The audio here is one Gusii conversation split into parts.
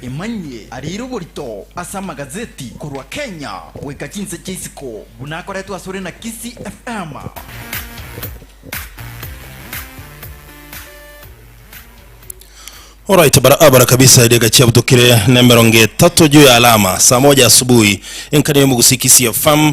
Emanyie ariire oborito ase amagazeti korwa Kenya goika chinse chia isiko buna akoretwe asore na Kisii FM. Alright barabara kabisa edeka chiabutokire na emerongo etato juu ya alama saa moja asubuhi enkani ya omogusi kisii fm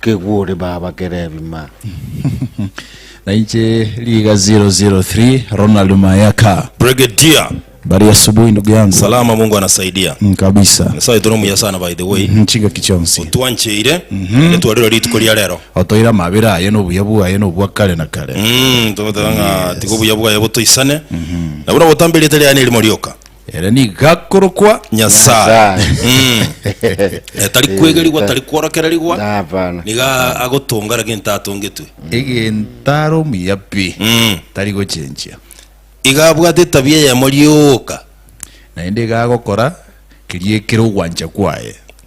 Kegwe ore baba kera ebima. Na inche riga 003 Ronald Mayaka. Brigadier. Bari asubuhi ndugu yangu. Salama Mungu anasaidia. Kabisa. Nyasaye tore omuya sana by the way. Chingaki chionsi. Otwancheire. Ere twarire rituko ria rero. Otoire amabera aye na obuya bwaye na obwa kare na kare. Togoteba ng'a tiga obuya bwaye botoisane. Na buna ogotambe erieta riaye nerimo rioka. Ere nigo gakorokwa Nyasae. Nyasae. Eh, tari kwegerigwa, tari kworokererigwa. Hapana. Nigo a- agotonga raki ntatongetwe. egentara omuya pi Mm. tari gochenchia Iga abwate etabia eyemo rioka. naende iga agokora keria ekere ogwancha kwaye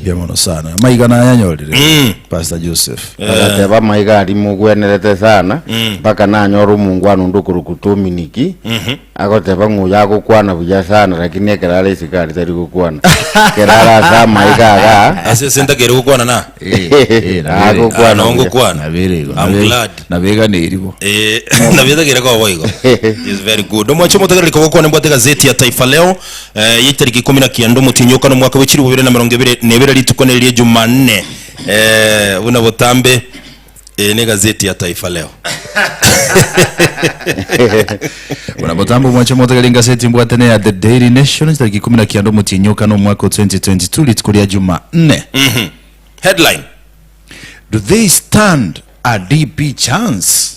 Mbuya mono sana. Maiga nayanyorire mm. Pastor Joseph. Eh. Agateba maiga ari mugwenerete sana mm. mpaka nanyora omungwana onde okoroku Dominiki mhm. agoteba ng'oyo agokwana buya sana lakini ekerara isiko ari tari gokwana kerara ase amaiga aga ase senta kere gokwana na eh, eh, ah, agokwana ah, ngokwana I'm glad nabeganeribo nabetagere koboigo is very good omwacho motagereri kogokwana mbwate gazeti ya Taifa Leo Eh, yaitariki ikomi na kianda omotienyi oka nomwaka bwe chilifu bibere na merongo ebere na ebere rituko neri rie Jumanne. Eh, buna botambe eye ne gazeti ya Taifa Leo. Buna botambo mwache motegeri ngaseti mbwate ne ya The Daily Nation chitariki ikumi na kianda omotienyi oka nomwaka o 2022 rituko ria Jumanne. Headline. Do they stand a DP chance?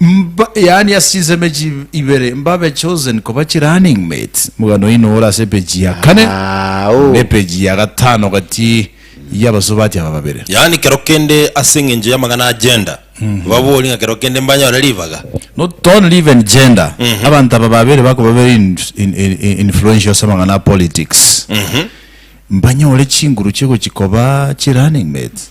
Mba, yaani ase chinsemo echi ibere, mbabe chosen koba chirunning mates. Omogano oino ore ase epeji ya kane Ah, oh. na epeji ya gatano gati y'abasubati aba babere. Yaani kero kende ase eng'encho y'amang'ana a gender, baborie ng'a kero kende mbanyore ribaga. Not only even gender, abanto aba babere bakoba very in, in, in, in- influential ase amang'ana a politics. Mbanyore chinguru chigochi koba chirunning mates.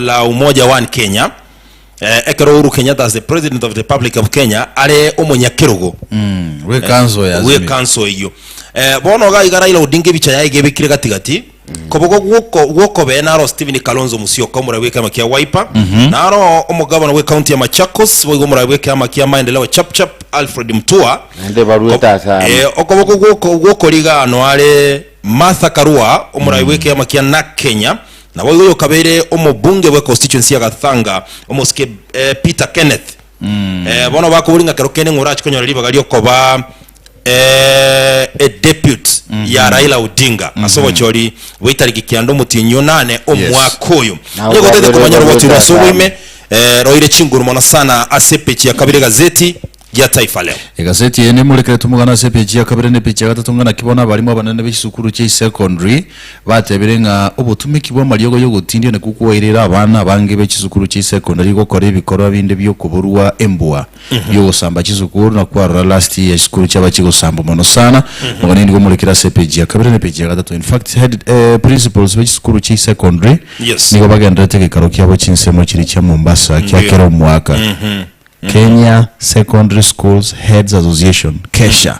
la Umoja One Kenya, eh, ekero Uhuru Kenyatta as the President of the Republic of Kenya are omonyakerogo Bwe kanso ya bwe Azimio. kanso eyio Eh, bono iga iga Raila Odinga ebicha yaye gebekire gatigati kobogo gwoko- gwokobe naro Stephen Kalonzo Musyoka omoraia bw'ekeama kia Wiper naro omogabana bw'ekaunti ya Machakos boigo omoraia bw'ekeama kia Maendeleo Chapchap Alfred Mutua Naende barwete ase amo. Eh, okoboko gwoko- gwokoriga ano are Martha Karua omoraia bw'ekeama kia NAK Kenya Naboigo oyokabeire omobunge bwe constituency ya Gathanga, omosike Peter Kenneth, bono bakoboria ng'a kero kende ng'a orache konyore ribaga riokoba e depute ya Raila Odinga ase obochori bwa etariki kianda omotienyi o nane omwaka oyo. Onye gotaete komanya rogochi rwa ase oboime, roire chinguru mono sana ase epeji ya kabere egazeti gia taifa leo. Egaseti eye neimorekeretwe mogana ase epeji ya kabere na epeji ya gatato ng'a naki bono abaalimu abanene be chisukuru chia Isecondary batebire ng'a obotumeki bw'amariogo y'ogotindia nakwo kwaoereire abana abange be chisukuru chia Isecondary gokora ebikorwa binde bi'okoborua embua bi'ogosamba chisukuru na kwarora last year chisukuru chiaba chigosambwa mono sana mogana nigo omorekire ase epeji ya kabere na epeji ya gatato in fact head eh, principals be chisukuru chia Isecondary Yes. nigo bagenderete gekaro kiabo chinsemo chiria chia Mombasa kia Ndio. kera omwaka Kenya Secondary Schools Heads Association, KESHA.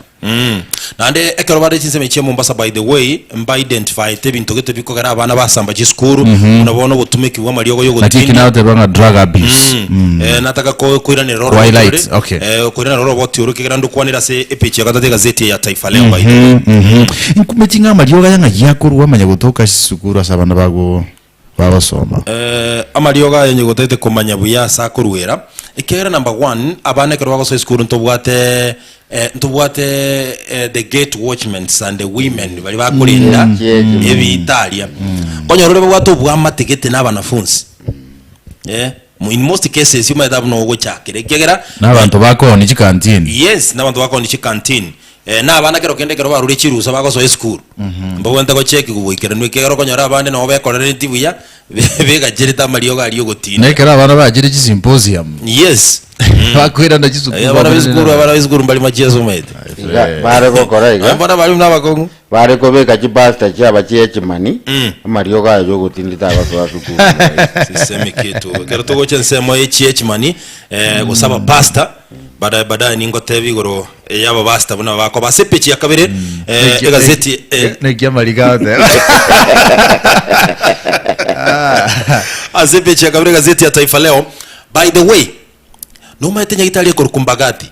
Naende ekero bare chinsemo echia Mombasa by the way mba identifiete ebinto gete bikogera abana basamba chisukuru buna bono ogotumeki bwa amariogo ya Naki eki ogotindi nagoteba ng'a drug abuse. Mm. Eh, nataka ko- koiranera oro Twilight, oboti ore, okay. eh, koiranera oro oboti ore kegera ndokwanera ase epage ya gatatu egazeti ya Taifa Leo by the way. Nkumeti ng'a amariogo aya ng'aki akorwa amanya gotoka chisukuru ase abana bago. bagosoma. Amariogo aye onyegote gete komanya buya ase akoruera ekiagera number one abana ekero bagosoa esukuru ntobwate eh, ntobwate eh, the gate watchments and the women bari bakorenda ebitaria onyorore babwate obwamate gete na abanafunsi eh In most cases you might have no ogochakera ekiagera Nabanto bakooni chi canteen. Yes, nabanto bakooni chi canteen. Eh, na abana kero kende ekero baruria chirusa bagosoa esukuru. Mbabwente gocheki koboikeranu ekiagera okonyora abande nabo bekorereti buya, begacherete amariogo aria Na ogotinda. ekero abana bachire chi symposium. Yes. Bakoirana chisukuru Abana bamonene b'esukuru, abana nabande. b'esukuru mbari machia asomaete. Iga bare gokora iga. Mbona bari buna abakong'u. Bare kobeka chipasita chiaba chia echimani, amariogo aye y'ogotinda tabasoa ase ukuru yaye. Sisemi kitu. Ekero togocha ensemo eye chia echimani, eh, gose abapasita, badaye badaye ningoteba igoro eh, ya abapasita buna bakoba. Ase epechi ya kabere, eh, Naki- egazeti, eh, naki- naki amariga agoteba ase epechi ya kabere egazeti ya Taifa Leo, by the way, nomaete nyagitari ekorokwa Mbagathi.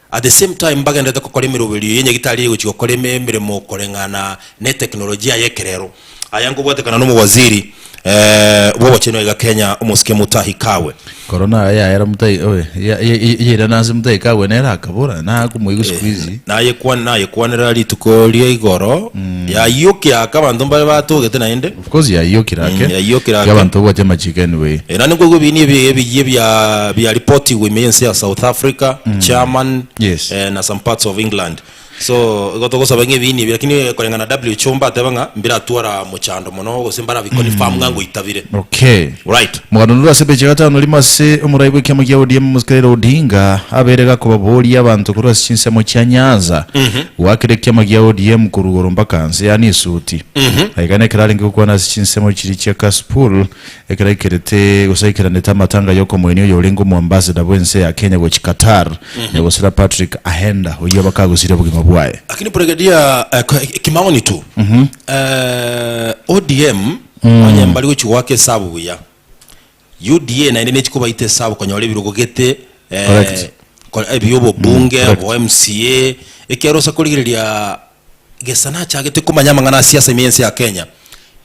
At the same time mbagenderete gokora emeroberio ye nyagitari egochia gokora emeremo koreng'ana ne teknolojia y'ekerero. Aya ngobwatekana n'omowaziri bw'obochenu aiga Kenya, Omosike Mutahi Kagwe. Korona aya yaera Mutahi oye yairana ase Mutahi Kagwe nere akabora nakomoigwa siku hizi. Nayekwanera rituko ria igoro, yaiyukia aka abanto mbare batogete naende. Kosi yayio kira ake, Mm, yayio kira ake. ki'abanto gocha amachiiko anyway. Eh, nandi nkoigwa ebiini ebi- ebiyiie bia bia reportigwa ime ense ya south africa german Yes. eh, na some parts of england so igo togosaba ng'a ebiini ebi lakini eh, koreng'ana na who mbateba ng'a mbiratwara mochando mono gose mbarabiconfirm ng'a ngoitabire Okay. Right. Mogano rurwe ase page ya gatano rimo ase omorai bw'ekiama kia ODM omosike Raila Odinga abeire gakobaboria abanto korwa ase chinsemo chia Nyanza goakera ekiama gia ODM korwa igoro mpaka nse yaani esuti aigana ekero arenge gokwana ase chinsemo chiria chia Kasipul ekero aikerete gose aikeranete amatanga y'okomoenia oyo orenge omoambassador bw'ense ya Kenya gochia Qatar nyagosera Patrick Ahenda oyio abakagusire obogima bwaye Lakini Brigadia eh, kwa- kimaoni tu eh, ODM Onye mbari gochia goaka esabu buya, UDA naende nechikobaita esabu konyora ebirogo gete Correct. eh, ebi obobunge, correct. obo MCA, ekiagera osa korigereria Gesana achagete komanya amang'ana a siasa ime y'ense ya Kenya.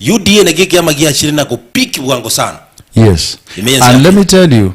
UDA naki ekiama giachire na go peak bwango sana. Yes. Ime yensi And let yake. me tell you,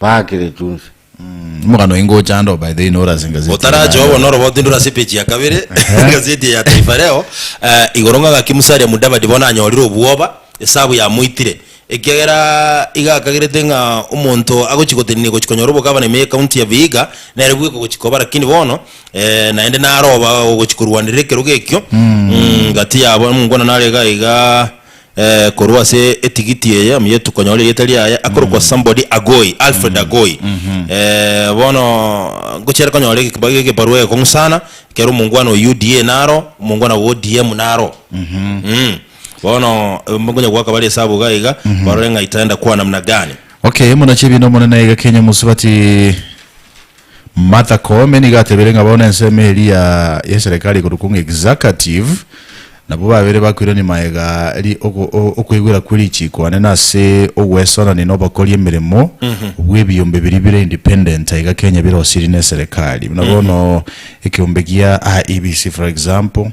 baakire chionsi. Omogano oye ngocha ande oo by the way nore ase engazeti Otarache yaye. obo norobao tindora ase epeji ya kabere egazeti eye ya Taifa Leo eh, igoro ng'a gaki Musalia Mudavadi bono anyorire obwoba esabu yamoitire ekiagera iga akagerete ng'a omonto agochi gotenenia gochi konyora obogavana ime y'ekaunti ya Vihiga nere bweka gochi koba lakini bono eh, naende naroba gochi korwanerera ekerogo ekio mm, gati yabo muna narega iga Eh, korwa ase etigiti eye omuya tukonyora erieta riaye akorokwa somebody agoi alfred agoi Eh, bono ngochiare konyora egekiba- egebarua egekong'u sana ekero omongwana o uda naro omongwana o odm naro Mm. bono nkonya goaka bare esabu iga iga barore ng'a itaenda kuwa namna gani Okay, muna chibi no monene iga Kenya musubati Martha Koome nigo atebire ng'a bono ensemo eria ya y'eserekari ekorokwa ng'a executive nabwo babere bakoirania maega ri ogo- o- okoigwera kwe richiiko ane nase ogwesorania na obakori emeremo bw'ebiyombe biria bire independent aiga Kenya birosirie na eserekari buna bono ekeyombe gia IEBC for example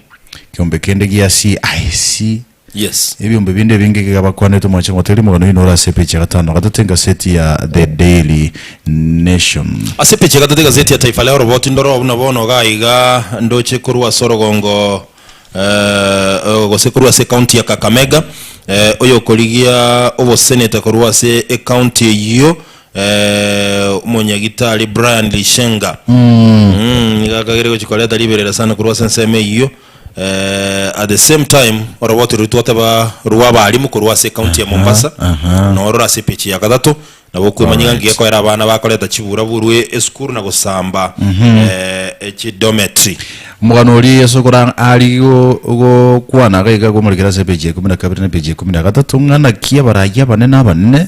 ekeyombe kende gia CIC Yes. Ebiombe binde ebinge iga bakwanete omwancha ng'ote rimogana oino ore ase epeji ya gatano gatato engaseti ya The Daily Nation. Ase epeji ya gatato egaseti ya Taifa Leo roboti ndoro oo buna bono iga aiga ndoche korwa ase orogongo eh, gose korwa ase ecounty ya Kakamega eh, oyokorigia oboseneta korwa ase ecounty eyio eh, omonyagitari Brian Lishenga mm, nigo akagire gochia koreta riberera sana korwa ase ensemo eyio Eh, at the same time oroboti rori twateba rwa abarimu korwa ase county ya Mombasa aha. norora ase page ya gatato nabo okwemanyeka Alright. ngekoera abana bakoreta chibura borwe esukuru na gosamba eh, echidometry Omogano oria Yeso okora ari go- gokwana iga iga komorikera ase epeji ya ikomi na kabere na epeji ya ikomi na gatato ng'a naki abarayia abanene abanene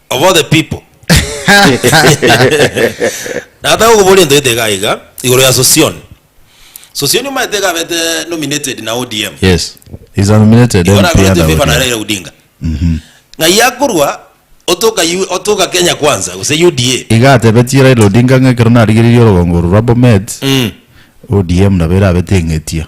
of all the people nataka gokoboria ento gete iga iga igoro ya sosion sosion omanyete iga abete nominated na odm yes he's a nominated igo MP nagorete under fifa na ODM. raila odinga ng'ai akorwa otoka U- otoka kenya kwanza gose uda iga atebetie raila odinga ng'a ekero narigeririe orogongo oro rwa bomet Mm. odm nabo erabete eng'etia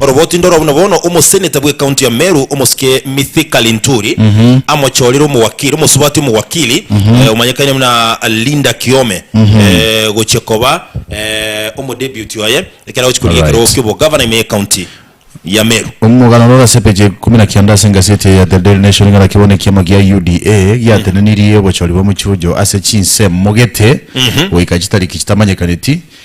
Oroboti ndoro buna bono omoseneta bw'ekaunti ya Meru omosike Mithika Linturi amochorire omowakiri omosubati omowakiri omanyekane buna Linda Kiome gochia koba omodeputy oye ekero agochia korigia ekerogo ki'obogavana ime y'ekaunti ya Meru. Omogano oro orasepetie ikomi na kianda ase engaseti eye ya The Daily Nation ng'a naki bono ekiama gia UDA giatenenirie obochori bwa mochie oyio ase chinsemo gete goika chitariki chitamanyekaneti.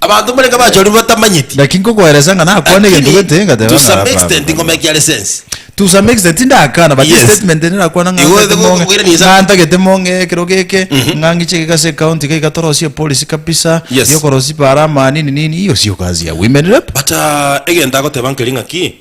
Abanto mbarenge abachorire batamanyeti. Naki nkokoeresa ng'a nakwane egento Lakini gete ngateba to ng'a some hapana, extent hapana. ngomekia license. To some extent tindakana but Yes. statement ende nakwana ng'a Igo ntagete ego- mong'e okoirania insa- ng'a ntagete mong'e ekero geke ng'a ng'iche geka ase ecounty iga iga torosie epolisi kabisa Yes. yokorosi bare amani nini nini iyo siyo kazi ya women rep But ah, egento agoteba nkeri ng'aki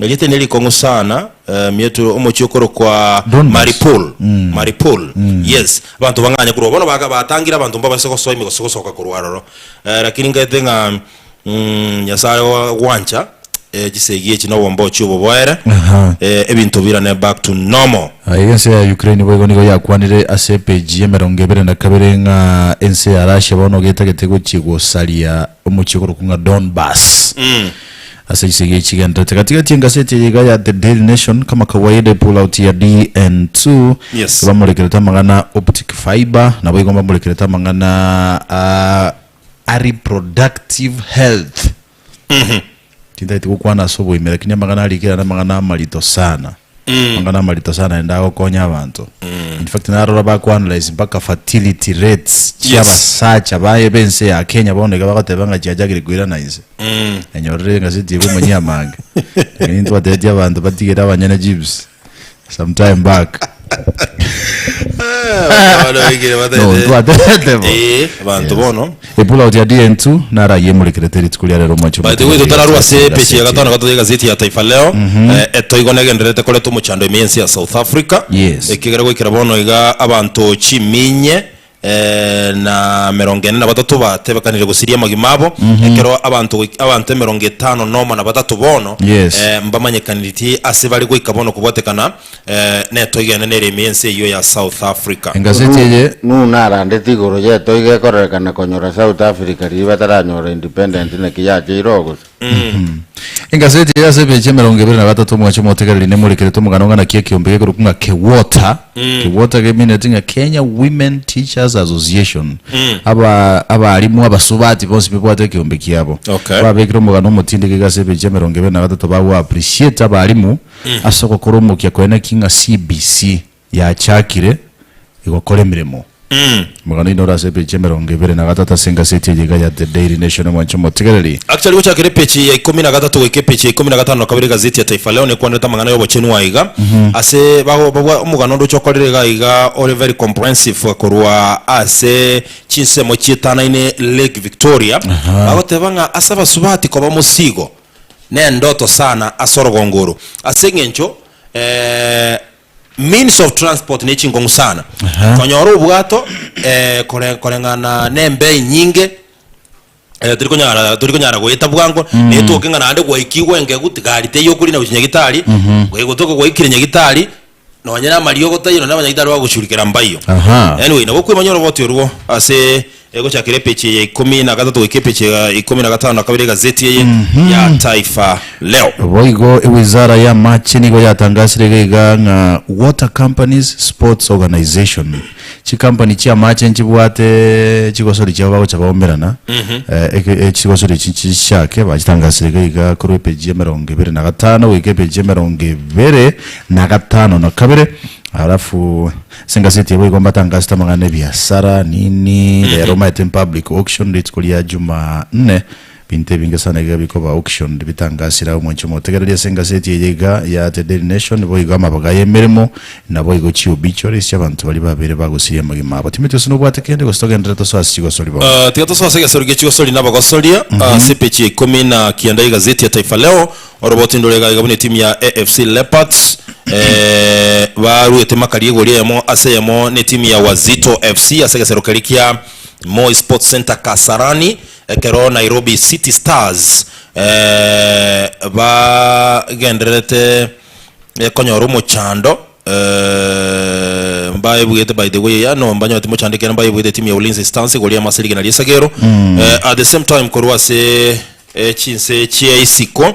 Egete ne rikong'u sana eh, mieto omochie okorokwa Donbas. Mariupol Mariupol yes abanto bang'anya korwa bono baga- batangire abanto mbabaise gosoa ime gose gosoka korwa aroro Eh, lakini ngete ng'a mm, nyasaye oa- gwancha eh, chisegi echi na obombochi oboboere Aha. eh, ebinto birane back to normal Ah, iga ense ya Ukraine boigo nigo yakwanire ase epage ya emerongo ebere na kabere ng'a ense ya Russia bono getagete gochia gosaria omochie okorokwa ng'a Donbas. Ase chisegi echi chigendererete gati gati engaseti eye iga ya The Daily Nation kama kawaida epulauti ya DN2 Yes. ebamorekerete amang'ana optic fibre naboigo mbamorekerete amang'ana a, a reproductive health tintaeti gokwana ase oboime lakini amang'ana arikera namang'ana amarito sana Amang'ana amarito sana naende agokonya abanto. In fact narora ba ku analyze mpaka fertility rates chia Yes. abasacha baye bense ya Kenya bono iga bagoteba ng'a chiachakire koirana inse. Enyorire egaseti ego omonyia amange. Ng'ai ntwatetie abanto batigere abanyene chips sometime back. No, ntwatetete bo. Eh, abanto Yes. bono Epulao ya Dientsu naro ayio emorekerete rituko ria rero omwancho By the omotiga way, oria totararue ase ogotegerera epeji ya gasieti gatano eye. gatoiga egazeti ya Taifa Leo, eh, etoigo negendererete koretwa omochando ime y'ense ya South Africa, Yes. ekegera goikera bono iga abanto chiminye eh, na merongo ene na batato batebekanire gosiria amagima abo, ekero abanto goik- abanto emerongo etano nomo na batato bono Yes. eh, mbamanyekaniretie ase bare goika bono kobwatekana eh, netoigo ene nere ime y'ense eyio ya South Africa. Engaseti eye Nuhu narandete igoro y'etoigo ekorerekana konyora South Africa riria bataranyora independent naki yacheire oo gose? Engaseti eye ase emechi emerongo ebere na batato omwachi omotegereri nemorekeretwe omogano ng'a naki ekeombe gekorokwa ng'a KEWOTA. KEWOTA gemineti ng'a Kenya Women Teachers Association. Aba abarimu abasubati bonsi bebwate ekeombe kiabo. Okay. Babekire omogano omotindiki iga ase emechi emerongo ebere na batato bago appreciate abarimu Ase ogokora omokia kore naki ng'a CBC yachakire gokora emeremo. Omogano oino ore ase epeji emerongo ebere na gatato ase engaseti eye iga ya The Daily Nation omwancha omotigereri. Akchari gochakera epeji ya ikomi na gatato goika epeji ya ikomi na gatano na kabere egazeti ya Taifa Leo nekwanderete amang'ana y'obochenu aye iga ase bago babwa omogano onde oche okorire iga iga ore very comprehensive korwa ase chinsemo chietanaine Lake Victoria. Agoteba ng'a ase abasubati koba mosigo. nendoto sana ase orogongo oro ase engencho means of transport ne chingong'u sana konyora obwato kore koreng'ana nembei nyinge teri konyara tori konyara goeta bwango netoke ng'a naende gwaikigwe engegu tigari teiyo okori na gochia nyagitari goika gotoka gwaikire nyagitari. Nonyene amariogo taiyo naende abanyaito aria bagochurikera mbaio. Aha. Anyway, nabo kwemanyora oboti orwo ase eh, gochakera epechi eye ya ikomi na gatato goika epechi ya ikomi na gatano na kabere egazeti eye ya Taifa Leo. Boigo ewizara y'amache nigo yatangasire iga iga ng'a water companies sports organization. Chikampani chi'amaache nchibwate chigosori chiabo bagocha baomerana eh, eke- eh, chigosori echi chinchiake bachitangasire iga iga korwa epeji emerongo ebere na gatano goika epeji emerongo ebere na gatano na kabere alafu ase engaseti abo igo mbatangasete amang'ana ebiasara nini rero maete in public auction rituko ria juma nne Binto ebinge sana iga bikoba auctioned bitangasire agwo mwanche motegereri ase engaseti eye iga ya The Daily Nation boigo amabaga y'emeremo naboigo chi'obituaries chi'abanto baria babere bagosiria amagima abo. Timothy ase nobwate kende gose togenderere tosoe ase chigosori bono. Tiga tosoe ase egesori gie chigosori na abagosoria. Ase epeji ya ikomi na kianda y'egazeti ya Taifa Leo oroboti ndore iga iga buna etimu ya AFC Leopards baruete makari egori eyemo ase eyemo netimu ya Wazito FC ase egesero keria kia Moi Sports Centre Kasarani Ekero Nairobi City Stars bagendererete konyora omochando, mbaebwete by the way yaani mbanyore timochando ekiagera mbaebwete timu ya Ulinzi Stars igoro ya Maase rigena ri'esegero at the same time korwa ase chinse chia isiko.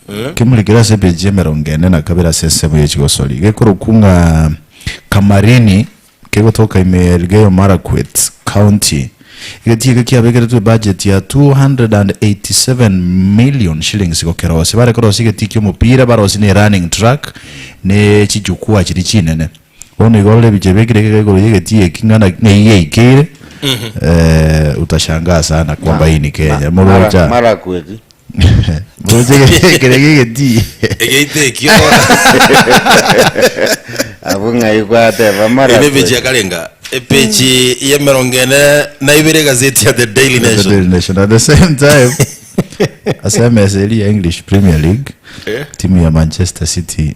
Kemuri kere ase epeji emerongo ene na kabere ase ensemo ye chigosori gekorokwu ng'a Kamarini kegotoka ime ya Elgeyo Marakwet County. Egetiika kiabegeretwe ebudget ya 287 million shillings gokerosia. Bare korosia egetiiki omopira, barosie ne running track ne chichukua chiria chinene. Bono iga orore ebichie biekire ekeka igoro y'egetii eki ng'a na- ng'a iga eikeire eh, utashangaa sana kwamba hii ni Kenya. Morocha marakweki morocha egetii ekere g'egetii. Egeita ekio abwo ng'ai gwateba Ime bichia marakweki karenga epechi y'emerongo ene na ibere egazeti ya The Daily The Nation. Daily Nation. At the same time, ase emesa eria ya English Premier League, timu ya Manchester City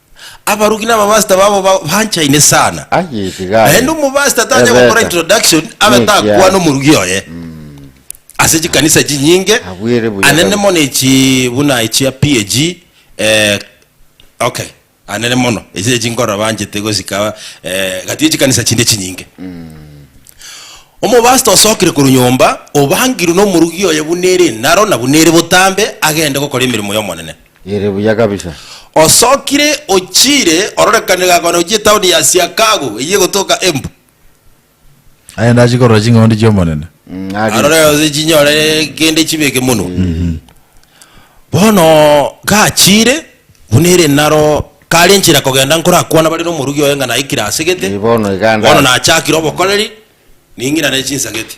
Abaruki na abapastor babo ba- banchaine sana. Aye iga aye. Naende omopastor tanya gokora Ebeta. introduction abe Niki takwana aye? omorugi oye. Ase chikanisa chinyinge, Abwire buya anene kabisa. mono echi buna echia PAG, eh, okay, anene mono, echi echi nkorora banchete gosika eh, gati echikanisa chinde chinyinge. Omopastor osokire korwa nyomba, obangirwe nomorugi oye buna ere enaro na buna ere botambe, agende gokora emeremo y'Omonene. ere buya kabisa. Osokire ochiire ororekane gakwana gochia etaoni ya Chiacago eyio egotoka Embu. Aye ndachie korora ching'ondi chi'Omonene. Arore gose chinyore kende chibe ekemonwa. Bono gachiire, buna ere naro kare enchera kogenda nkorakwana bare n'omorugi oye ng'a naikire asegete. Bono naachakire obokoreri, ning'irane chinsageti.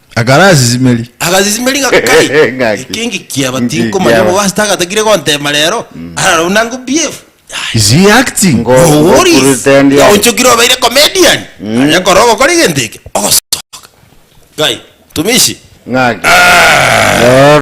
akarasisimeria agasisimeria ng'a kai Ng'aki. eke ngikiaba Ngikiaba. tinkomanya obo ase tagatagire gontema rero ararau nango bf is he acting Ngo- Oworis, ngokurutendi aye. gaonchokire obeire comedian aria kora ogokora egento eke ogosoka kai tumishi Ng'aki. Roro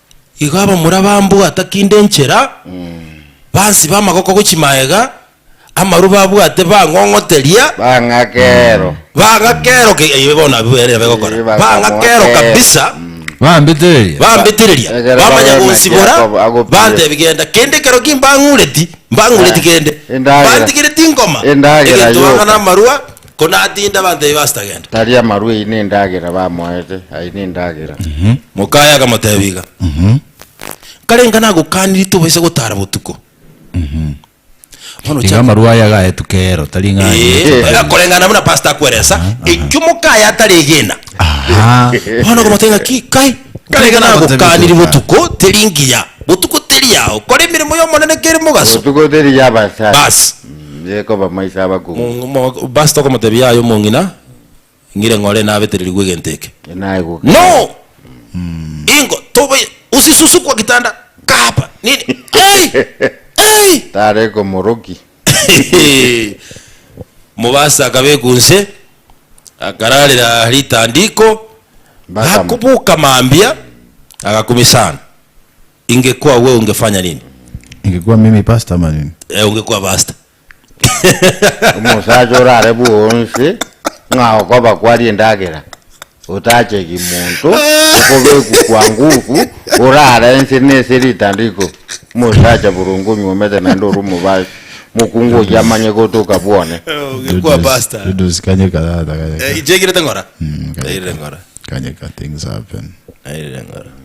Igo abamura bambwata kinde enchera, bansiba amagoko go chimaega, amaru babwate bang'ong'oteria, Bang'ake ero. bang'ake ero ke- eh, bono abwo ere begokora, Eh, bang'ake ero bakamoake. kabisa, Bambitireria. bambitireria, Egere bamanya babe gonsibora, naki akobo- agopire. bantebi genda, kende ekero ki mbang'ureti, mbang'ureti Eh, kende, endagera. bantigereti ngoma, Endagera egento yoka. ang'ana amarwa, ko natinde abanto ebi bastagende. Tari amarwa eyi nendagera bamoete, aye nendagera. Mokaye akamotebia iga, Kare inga nagokaniri tobaisa gotara botuko. Bono Iga chia amarwa aya agaetwa kero, tari ng'a aye Ee, nechiko tari. koreng'ana buna pastor akweresa, ekio mokaye ataregena. Aha. Bono okamotebia ng'a ki kai, Kare inga nagokaniri botuko teri ngiya, botuko teri yao, kora emeremo y'Omonene kere mogaso. Botuko teri y'Abasae. Bas. Yekoba maiso abakungu. Pastor okomotebia aye omong'ina, ng'ire ng'ore nabetererigwe egento eke. Naye goka. No! Ingo tobe usisusu kwa kitanda kahaba nini hey! Hey! Tare komoroki. Omobasa akabekwa onse, akararera ritandiko, Mbaka. akoboka mambia, agakumia sana. Ingekuwa we ungefanya nini? Ingekuwa mimi pasta ama nini? Eh, ungekuwa pasta. Omosacha orare bwonsi ng'a okoba kwaria endagera, otachegi monto, okobekwa kwa nguku, orare ense nese ritandiko. Omosacha boronge onywomete naende ore omobaso, mokungu oyio amanye gotoka bwone. Eh, ungekuwa Dudes- pasta. Dudes kanyeka tata kanyeka. Eh, inche ngirete ng'ora. Mm, Nairire ng'ora. Kanyeka things happen. Nairire ng'ora.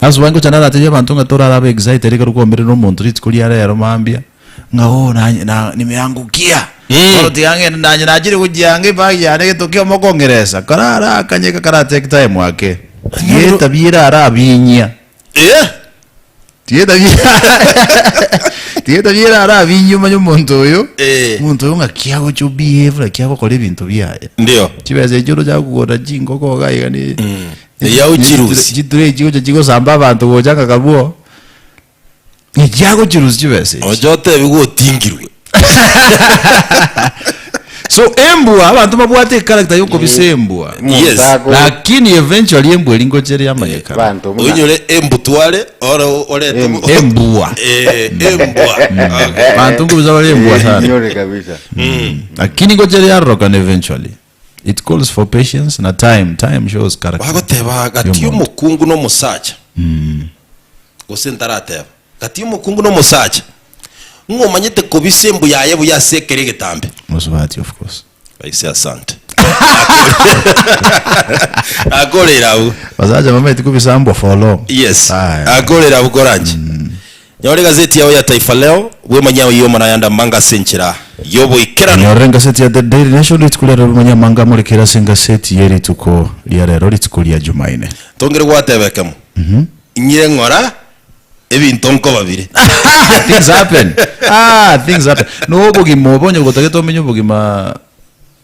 Ase obwango gocha naratebie abanto ng'a torare abe excited ekero kwaomerire omonto rituko ria reero mambia, ng'a oh nanye na nimeangokia. Eh. Bono tiga ng'ende nanye nachire gochia anga ebag yane egento kiamo kongeresa. Karara akanye eka kara take time ake. Tiga etabia erare abinyia. Eh! Tiga etabia tiga etabia ere arabinge omanye omonto oyo, Eh. omonto oyo ng'a ki agocha obehave, naki agokora ebinto biaye. Ndio. Chibesa echio orochaka kogora chingoko iga iga ne Mm. ne- Eyao ne- chirusi. chitray chigocha chigosamba abanto gocha ng'a kabuo, ng'a ki agochirusia chibesa echi. Ocha otebigwe otingirwe. so embwa abantu babwate echaracter yokobisa Eh, embwa omonto Yes. ago- lakini eventually embwa eri ngocha eri amanyekana banto buna- oinyore embutware ore orete Em- embwa Eh, embwa Okay. bantu nkobisa bari embwa Eh, sana inyore kabisa lakini ngocha eri arorokana eventually It calls for patience na time, time shows character. Bagoteba, Gati Y'omonto. omokungu na omosacha? Gose ntarateba, Gati omokungu na omosacha? Ng'a omanyete kobisa embu yaye buya ase ekeri egetambe. Mosubati of course. Raisi asante. Akorera abwo. Basacha bamaeti kobisa mbwa for long. Yes. Aye. Akorera abwo koranche. Nyora egazeti yao ya Taifa Leo, bwe manyao ye omonayanda amanga ase enchera y'oboikeranu. Nyorora engaseti ya The Daily Nation rituko riarero bwe manya amanga amorekire ase engaseti ye rituko riarero rituko ria Jumaine. Tongire gwateba ekemo, inyire ng'ora ebinto nko babire. Ahaa! Things happen! Aah! Things happen! Noo obogima obo onye gotagete omenye obogima.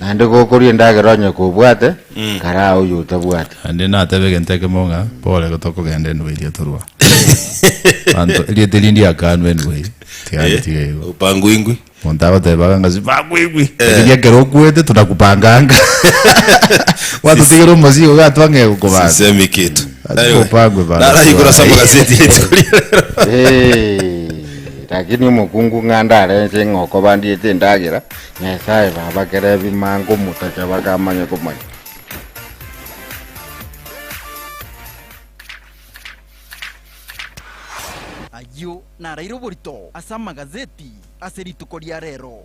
Naende gokorua endagera onye kobwate, karaa oyio otabwati. Naende natebe egento ekemo ng'a, Pole, tokogenda enwe eria torua. Abanto, erieta erinde riakanwe enwe eye, tiga ntiga igo. Opanguingwi. Monto agotebaga ng'a sipanguingwi, lakini ekero okwete tunakupanganga. Gwatotigera omosio iga gateba ng'a egokobanga. Sisemi kinto. Lazima opangwe bana Naraigora ase twaye. amagazeti rituko ria rero. Eeh, Lakini omokungu ng'a ndare inche ng'a okobandiete endagera. Nyasae babakere ebi mango motacha bakamanya komanya. Ayio naraire oborito ase amagazeti ase rituko ria reero.